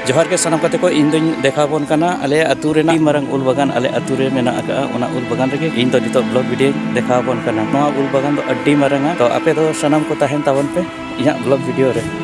ᱡᱚᱦᱟᱨ ᱜᱮ ᱥᱟᱱᱟᱢ ᱠᱟᱛᱮ ᱠᱚ ᱤᱧ ᱫᱚᱧ ᱫᱮᱠᱷᱟᱣ ᱵᱚᱱ ᱠᱟᱱᱟ ᱟᱞᱮ ᱟᱹᱛᱩ ᱨᱮᱱᱟᱜ ᱟᱹᱰᱤ ᱢᱟᱨᱟᱝ ᱩᱞ ᱵᱟᱜᱟᱱ ᱟᱞᱮ ᱟᱹᱛᱩ ᱨᱮ ᱢᱮᱱᱟᱜ ᱟᱠᱟᱫᱼᱟ ᱚᱱᱟ ᱩᱞ ᱵᱟᱜᱟᱱ ᱨᱮᱜᱮ ᱤᱧ ᱫᱚ ᱱᱤᱛᱚᱜ ᱵᱞᱚᱜ ᱵᱷᱤᱰᱤᱭᱳ ᱫᱮᱠᱷᱟᱣ ᱵᱚᱱ ᱠᱟᱱᱟ ᱱᱚᱣᱟ ᱩᱞ ᱵᱟᱜᱟᱱ ᱫᱚ ᱟᱹᱰᱤ ᱢᱟᱨᱟᱝᱟ ᱛᱚ ᱟᱯᱮ ᱫᱚ ᱥᱟᱱᱟᱢ ᱠᱚ ᱛᱟᱦᱮᱱ ᱛᱟᱵᱚᱱ ᱯᱮ ᱤᱧᱟᱹᱜ ᱵᱞᱚᱜ ᱵᱷᱤᱰᱤᱭᱳ ᱨᱮ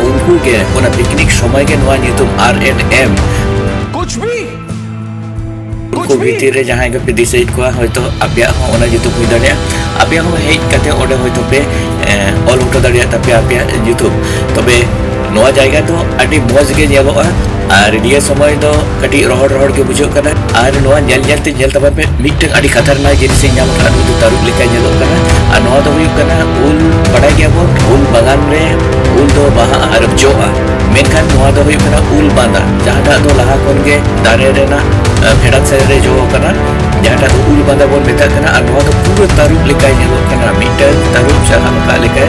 ᱩᱱᱠᱩ ᱜᱮ ᱚᱱᱟ ᱯᱤᱠᱱᱤᱠ ᱥᱚᱢᱚᱭ ᱜᱮ ᱱᱚᱣᱟ ᱧᱩᱛᱩᱢ ᱟᱨ ᱮᱱ ᱮᱢ ᱠᱩᱪ ᱵᱷᱤ ᱩᱱᱠᱩ ᱵᱷᱤᱛᱤᱨ ᱨᱮ ᱡᱟᱦᱟᱸᱭ ᱜᱮᱯᱮ ᱫᱤᱥᱟᱹᱭᱮᱫ ᱠᱚᱣᱟ ᱦᱚᱭᱛᱚ ᱟᱯᱮᱭᱟᱜ ᱦᱚᱸ ᱚᱱᱟ ᱧᱩᱛᱩᱢ ᱦᱩᱭ ᱫᱟᱲᱮᱭᱟᱜᱼᱟ ᱟᱯᱮᱭᱟᱜ ᱦᱚᱸ ᱦᱮᱡ ᱠᱟᱛᱮ ᱚᱸᱰᱮ ᱦᱚᱭᱛᱚ ᱯᱮ ᱚᱞ ᱦᱚᱴᱚ ᱫᱟᱲᱮᱭᱟᱜ ᱛᱟᱯᱮᱭᱟ ᱟᱯᱮᱭᱟᱜ ᱧᱩᱛᱩᱢ ᱛᱚᱵᱮ ᱱᱚᱣᱟ ᱡᱟᱭᱜᱟ ᱫᱚ ᱟᱹᱰᱤ ᱢᱚᱡᱽ ᱜᱮ ᱧᱮᱞᱚᱜᱼᱟ ᱟᱨ ᱱᱤᱭᱟᱹ ᱥᱚᱢᱚᱭ ᱫᱚ ᱠᱟᱹᱴᱤᱡ ᱨᱚᱦᱚᱲ ᱨᱚᱦᱚᱲ ᱜᱮ ᱵᱩᱡᱷᱟᱹᱜ ᱠᱟᱱᱟ ᱟᱨ ᱱᱚᱣᱟ ᱧᱮᱞ ᱧᱮᱞ ᱛᱮ ᱧᱮᱞ ᱛᱟᱵᱚᱱ ᱯᱮ ᱢᱤᱫᱴᱟᱝ ᱟᱹᱰᱤ ᱠᱷᱟᱛᱟᱨᱱᱟᱠ ᱡᱤᱱᱤᱥ ᱤᱧ ᱧᱟᱢ ᱠᱟᱜᱼᱟ ᱱᱩᱭ ᱫᱚ ᱛᱟᱹᱨᱩᱵ ᱞᱮᱠᱟᱭ ᱧᱮᱞᱚᱜ ᱠᱟᱱᱟ ᱟᱨ ᱱᱚᱣᱟ ᱫᱚ ᱦᱩᱭᱩᱜ ᱠᱟᱱᱟ ᱩᱞ ᱵᱟᱰᱟᱭ ᱜᱮᱭᱟ ᱵᱚᱱ ᱩᱞ ᱵᱟᱜᱟᱱ ᱨᱮ ᱩᱞ ᱫᱚ ᱵᱟᱦᱟᱜᱼᱟ ᱟᱨ ᱡᱚᱜᱼᱟ ᱢᱮᱱᱠᱷᱟᱱ ᱱᱚᱣᱟ ᱫᱚ ᱦᱩᱭᱩᱜ ᱠᱟᱱᱟ ᱩᱞ ᱵᱟᱸᱫᱟ ᱡᱟᱦᱟᱸᱴᱟᱜ ᱫᱚ ᱞᱟᱦᱟ ᱠᱷᱚᱱ ᱜᱮ ᱫᱟᱨᱮ ᱨᱮᱱᱟᱜ ᱯᱷᱮᱰᱟᱛ ᱥᱮᱫ ᱨᱮ ᱡᱚ ᱟᱠᱟᱱᱟ ᱡᱟᱦᱟᱸᱴᱟᱜ ᱫᱚ ᱩᱞ ᱵᱟᱸᱫᱟ ᱵᱚᱱ ᱢᱮᱛᱟᱜ ᱠᱟᱱᱟ ᱟᱨ ᱱᱚᱣᱟ ᱫᱚ ᱯᱩᱨᱟᱹ ᱛᱟᱹᱨᱩᱵ ᱞᱮᱠᱟᱭ ᱧᱮᱞᱚᱜ ᱠᱟᱱᱟ ᱢᱤᱫᱴᱟᱝ ᱛᱟᱹᱨᱩᱵ ᱡᱟᱦᱟᱸ ᱞᱮᱠᱟ ᱞᱮᱠᱟᱭ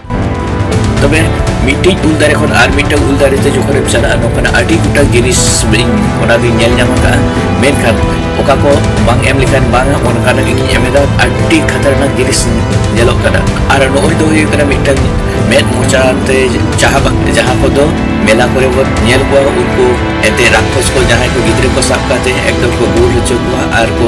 ᱛᱚᱵᱮ ᱢᱤᱫᱴᱤᱡ ᱩᱞ ᱫᱟᱨᱮ ᱠᱷᱚᱱ ᱟᱨ ᱢᱤᱫᱴᱟᱝ ᱩᱞ ᱫᱟᱨᱮ ᱛᱮ ᱡᱚᱠᱷᱚᱱᱮᱢ ᱪᱟᱞᱟᱜᱼᱟ ᱱᱚᱝᱠᱟᱱ ᱟᱹᱰᱤ ᱜᱚᱴᱟᱝ ᱡᱤᱱᱤᱥ ᱚᱱᱟ ᱫᱚᱧ ᱧᱮᱞ ᱧᱟᱢ ᱟᱠᱟᱫᱼᱟ ᱢᱮᱱᱠᱷᱟᱱ ᱚᱠᱟ ᱠᱚ ᱵᱟᱝ ᱮᱢ ᱞᱮᱠᱷᱟᱱ ᱵᱟᱝ ᱚᱱᱠᱟᱱᱟᱜ ᱜᱤᱧ ᱮᱢ ᱮᱫᱟ ᱟᱹᱰᱤ ᱠᱷᱟᱛᱟᱨᱱᱟᱠ ᱡᱤᱱᱤᱥ ᱧᱮᱞᱚᱜ ᱠᱟᱱᱟ ᱟᱨ ᱱᱚᱜᱼᱚᱭ ᱫᱚ ᱦᱩᱭᱩᱜ ᱠᱟᱱᱟ ᱢᱤᱫᱴᱟᱝ ᱢᱮᱫ ᱢᱚᱪᱟ ᱛᱮ ᱡᱟᱦᱟᱸ ᱵᱟᱝ ᱡᱟᱦᱟᱸ ᱠᱚᱫᱚ ᱢᱮᱞᱟ ᱠᱚᱨᱮ ᱵᱚᱱ ᱧᱮᱞ ᱠᱚᱣᱟ ᱩᱱᱠᱩ ᱮᱱᱛᱮ ᱨᱟᱠᱷᱚᱥ ᱠᱚ ᱡᱟᱦᱟᱸᱭ ᱠᱚ ᱜᱤᱫᱽᱨᱟᱹ ᱠᱚ ᱥᱟᱵ ᱠᱟᱛᱮ ᱮᱠᱫᱚᱢ ᱠᱚ ᱜᱩᱞ ᱦᱚᱪᱚ ᱠᱚᱣᱟ ᱟᱨ ᱠᱚ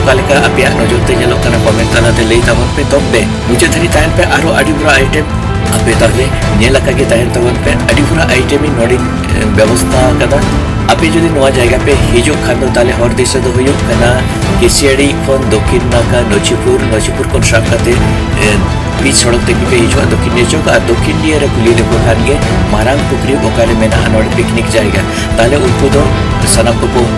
ᱚᱠᱟ ᱞᱮᱠᱟ ᱟᱯᱮᱭᱟᱜ ᱱᱚᱡᱚᱨ ᱛᱮ ᱧᱮᱞᱚᱜ ᱠᱟᱱᱟ ᱠᱚᱢᱮᱱᱴ ᱛᱟᱞᱟᱛᱮ ᱞᱟᱹᱭ ᱛᱟᱵᱚᱱ ᱯᱮ ᱛᱚᱵ ᱯᱮ ᱢᱩᱪᱟᱹᱫ ᱫᱷᱟᱹᱨᱤᱡ ᱛᱟᱦᱮᱱ ᱯᱮ ᱟᱨᱦᱚᱸ ᱟᱹᱰᱤ ᱵᱩᱨᱟ ᱟᱭᱴᱮᱢ ᱟᱯᱮ ᱛᱟᱦᱞᱮ ᱧᱮᱞ ᱟᱠᱟᱫ ᱜᱮ ᱛᱟᱦᱮᱱ ᱛᱟᱵᱚᱱ ᱯᱮ ᱟᱹᱰᱤ ᱵᱩᱨᱟ ᱟᱭᱴᱮᱢ ᱤᱧ ᱱᱚᱰᱮ ᱵᱮᱵᱚᱥᱛᱷᱟ ᱟᱠᱟᱫᱟ ᱟᱯᱮ ᱡᱩᱫᱤ ᱱᱚᱣᱟ ᱡᱟᱭᱜᱟ ᱯᱮ ᱦᱤᱡᱩᱜ ᱠᱷᱟᱱ ᱫᱚ ᱛᱟᱦᱞᱮ ᱦᱚᱨ ᱫᱤᱥᱟᱹ ᱫᱚ ᱦᱩᱭᱩᱜ ᱠᱟᱱᱟ ᱠᱤᱥᱤᱭᱟᱹᱲᱤ ᱠᱷᱚᱱ ᱫᱚᱠᱷᱤᱱ ᱱᱟᱠᱟ ᱱᱚᱪᱤᱯᱩᱨ ᱱᱚᱪᱤᱯᱩᱨ ᱠᱷᱚᱱ ᱥᱟᱵ ᱠᱟᱛᱮ ᱯᱤᱪ ᱥᱚᱲᱚᱠ ᱛᱮᱜᱮ ᱯᱮ ᱦᱤᱡᱩᱜᱼᱟ ᱫᱚᱠᱷᱤᱱ ᱱᱮᱪᱚᱠ ᱟᱨ ᱫᱚᱠᱷᱤᱱ ᱱᱤᱭᱟᱹ ᱨᱮ ᱠᱩᱞᱤ ᱞᱮᱠᱚ ᱠᱷᱟᱱ ᱜᱮ ᱢᱟᱨᱟᱝ ᱯᱩᱠᱷᱨᱤ ᱚᱠᱟᱨᱮ ᱢᱮᱱᱟᱜᱼᱟ ᱱᱚᱰᱮ ᱯᱤᱠᱱᱤᱠ ᱡᱟᱭᱜᱟ ᱛᱟᱦᱞᱮ ᱩᱱᱠᱩ ᱫᱚ ᱥᱟᱱᱟᱢ ᱠᱚᱠᱚ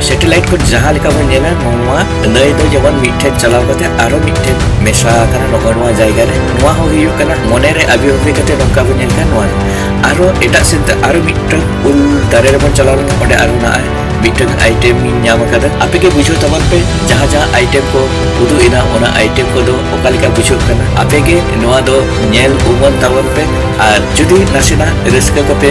ᱥᱮᱴᱮᱞᱟᱭᱤᱴ ᱠᱚ ᱡᱟᱦᱟᱸ ᱞᱮᱠᱟ ᱵᱚᱱ ᱧᱮᱞᱟ ᱱᱚᱣᱟ ᱱᱟᱹᱭ ᱫᱚ ᱡᱮᱢᱚᱱ ᱢᱤᱫᱴᱷᱮᱱ ᱪᱟᱞᱟᱣ ᱠᱟᱛᱮ ᱟᱨᱚ ᱢᱤᱫᱴᱷᱮᱱ ᱢᱮᱥᱟ ᱟᱠᱟᱱᱟ ᱱᱚᱜᱼᱚ ᱱᱚᱣᱟ ᱡᱟᱭᱜᱟ ᱨᱮ ᱱᱚᱣᱟ ᱦᱚᱸ ᱦᱩᱭᱩᱜ ᱠᱟᱱᱟ ᱢᱚᱱᱮ ᱨᱮ ᱟᱹᱵᱤ ᱵᱟᱹᱵᱤ ᱠᱟᱛᱮ ᱱᱚᱝᱠᱟ ᱵᱚᱱ ᱧᱮᱞ ᱠᱟᱱᱟ ᱱᱚᱣᱟ ᱟᱨᱚ ᱮᱴᱟᱜ ᱥᱮᱫ ᱟᱨᱚ ᱢᱤᱫᱴᱟᱝ ᱩᱞ ᱫᱟᱨᱮ ᱨᱮᱵᱚᱱ ᱪᱟᱞᱟᱣ ᱞᱮᱱᱠᱷᱟᱱ ᱚᱸᱰᱮ ᱟᱨᱚ ᱢᱮᱱᱟᱜᱼᱟ ᱢᱤᱫᱴᱟᱝ ᱟᱭᱴᱮᱢ ᱤᱧ ᱧᱟᱢ ᱟᱠᱟᱫᱟ ᱟᱯᱮ ᱜᱮ ᱵᱩᱡᱷᱟᱹᱣ ᱛᱟᱵᱚᱱ ᱯᱮ ᱡᱟᱦᱟᱸ ᱡᱟᱦᱟᱸ ᱟᱭᱴᱮᱢ ᱠᱚ ᱩᱫᱩᱜ ᱮᱱᱟ ᱚᱱᱟ ᱟᱭᱴᱮᱢ ᱠᱚᱫᱚ ᱚᱠᱟ ᱞᱮᱠᱟ ᱵᱩᱡᱷᱟᱹᱜ ᱠᱟᱱᱟ ᱟᱯᱮ ᱜᱮ ᱱᱚᱣᱟ ᱫᱚ ᱧᱮᱞ ᱩᱢᱟᱹᱱ ᱛᱟᱵᱚᱱ ᱯᱮ ᱟᱨ ᱡᱩᱫᱤ ᱱᱟᱥᱮᱱᱟᱜ ᱨᱟᱹᱥᱠᱟᱹ ᱠᱚᱯᱮ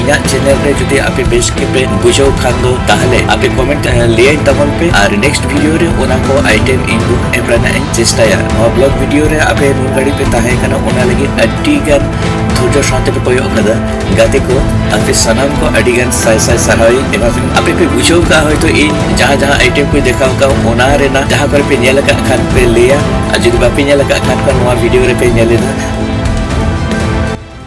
ᱤᱧᱟᱹᱜ ᱪᱮᱱᱮᱞ ᱨᱮ ᱡᱩᱫᱤ ᱟᱯᱮ ᱵᱮᱥ ᱜᱮᱯᱮ ᱵᱩᱡᱷᱟᱹᱣ ᱠᱷᱟᱱ ᱫᱚ ᱛᱟᱦᱞᱮ ᱟᱯᱮ ᱠᱚᱢᱮᱱᱴ ᱞᱟᱹᱭᱟᱹᱧ ᱛᱟᱵᱚᱱ ᱯᱮ ᱟᱨ ᱱᱮᱠᱥᱴ ᱵᱷᱤᱰᱤᱭᱳ ᱨᱮ ᱚᱱᱟ ᱠᱚ ᱟᱭᱴᱮᱢ ᱤᱧ ᱨᱩᱯ ᱮᱢ ᱨᱮᱱᱟᱜ ᱤᱧ ᱪᱮᱥᱴᱟᱭᱟ ᱱᱚᱣᱟ ᱵᱞᱚᱜ ᱵᱷᱤᱰᱤᱭᱳ ᱨᱮ ᱟᱯᱮ ᱱᱩᱱ ᱜᱷᱟᱹᱲᱤᱡ ᱯᱮ ᱛᱟᱦᱮᱸ ᱠᱟᱱᱟ ᱚᱱᱟ ᱞᱟᱹᱜᱤᱫ ᱟᱹᱰᱤ ᱜᱟᱱ ᱫᱷᱳᱨᱡᱚ ᱥᱟᱶᱛᱮ ᱯᱮ ᱠᱚᱭᱚᱜ ᱠᱟᱫᱟ ᱜᱟᱛᱮ ᱠᱚ ᱟᱯᱮ ᱥᱟᱱᱟᱢ ᱠᱚ ᱟᱹᱰᱤ ᱜᱟᱱ ᱥᱟᱭ ᱥᱟᱭ ᱥᱟᱨᱦᱟᱣ ᱤᱧ ᱮᱢᱟ ᱯᱮ ᱟᱯᱮ ᱯᱮ ᱵᱩᱡᱷᱟᱹᱣ ᱠᱟᱜᱼᱟ ᱦᱚᱭᱛᱳ ᱤᱧ ᱡᱟᱦᱟᱸ ᱡᱟᱦᱟᱸ ᱟᱭᱴᱮᱢ ᱠᱚᱧ ᱫᱮᱠᱷᱟᱣ ᱠᱟᱜᱼᱟ ᱚᱱᱟ ᱨᱮᱱᱟᱜ ᱡᱟᱦᱟᱸ ᱠᱚᱨᱮ ᱯᱮ ᱧᱮᱞ ᱟᱠᱟᱫ ᱠᱷᱟᱱ ᱯᱮ ᱞᱟᱹᱭᱟ ᱟᱨ ᱡᱩᱫᱤ ᱵᱟᱯᱮ ᱧᱮᱞ ᱟᱠᱟᱫ ᱠᱷᱟᱱ ᱱᱚᱣᱟ ᱵᱷᱤᱰᱤᱭᱳ ᱨᱮᱯᱮ ᱧᱮᱞᱮᱫᱟ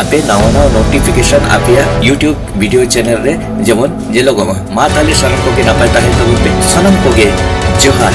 ᱟᱯᱮ ᱱᱟᱣᱟ ᱱᱟᱣᱟ ᱱᱳᱴᱤᱯᱷᱤᱠᱮᱥᱚᱱ ᱟᱯᱮᱭᱟᱜ ᱭᱩᱴᱤᱭᱩᱵᱽ ᱵᱷᱤᱰᱤᱭᱳ ᱪᱮᱱᱮᱞ ᱨᱮ ᱡᱮᱢᱚᱱ ᱧᱮᱞᱚᱜᱚᱜ ᱢᱟ ᱢᱟ ᱛᱟᱦᱞᱮ ᱥᱟᱱᱟᱢ ᱠᱚᱜᱮ ᱱᱟᱯᱟᱭ ᱛᱟᱦᱮᱱ ᱛᱟᱵᱚᱱ ᱯᱮ ᱥᱟᱱᱟᱢ ᱠᱚᱜᱮ ᱡᱚᱦᱟᱨ